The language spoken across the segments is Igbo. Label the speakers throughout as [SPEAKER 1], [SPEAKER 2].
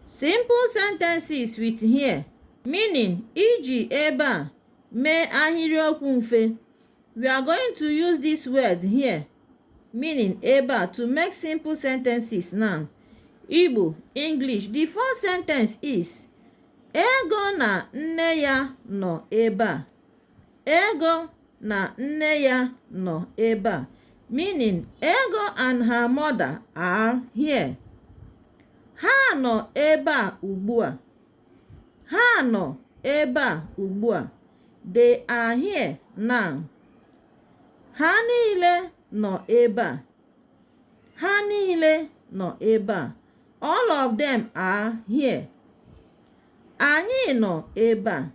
[SPEAKER 1] Simple sentences with here meaning iji ebe a mee ahịrịokwu mfe. We are going to use this word here meaning ebe a to make simple sentences now. Igbo, English. The first sentence is Ego na nne ya nọ ebe a. Ego na nne ya nọ ebe a meaning ego and her mother are here ha nọ ebe a ugbu a ha nọ ebe a ugbu a they are here now ha niile nọ ebe a ha niile nọ ebe a all of them are here anyị nọ ebe a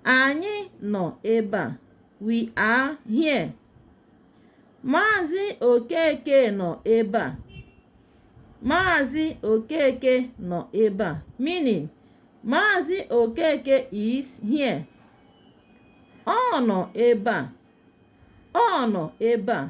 [SPEAKER 1] Anyị nọ ebe a. We are here. Maazị Okeke nọ ebe a. Maazị Okeke nọ ebe a. Meaning, Maazị Okeke is here. Ọ nọ ebe a. Ọ nọ ebe a.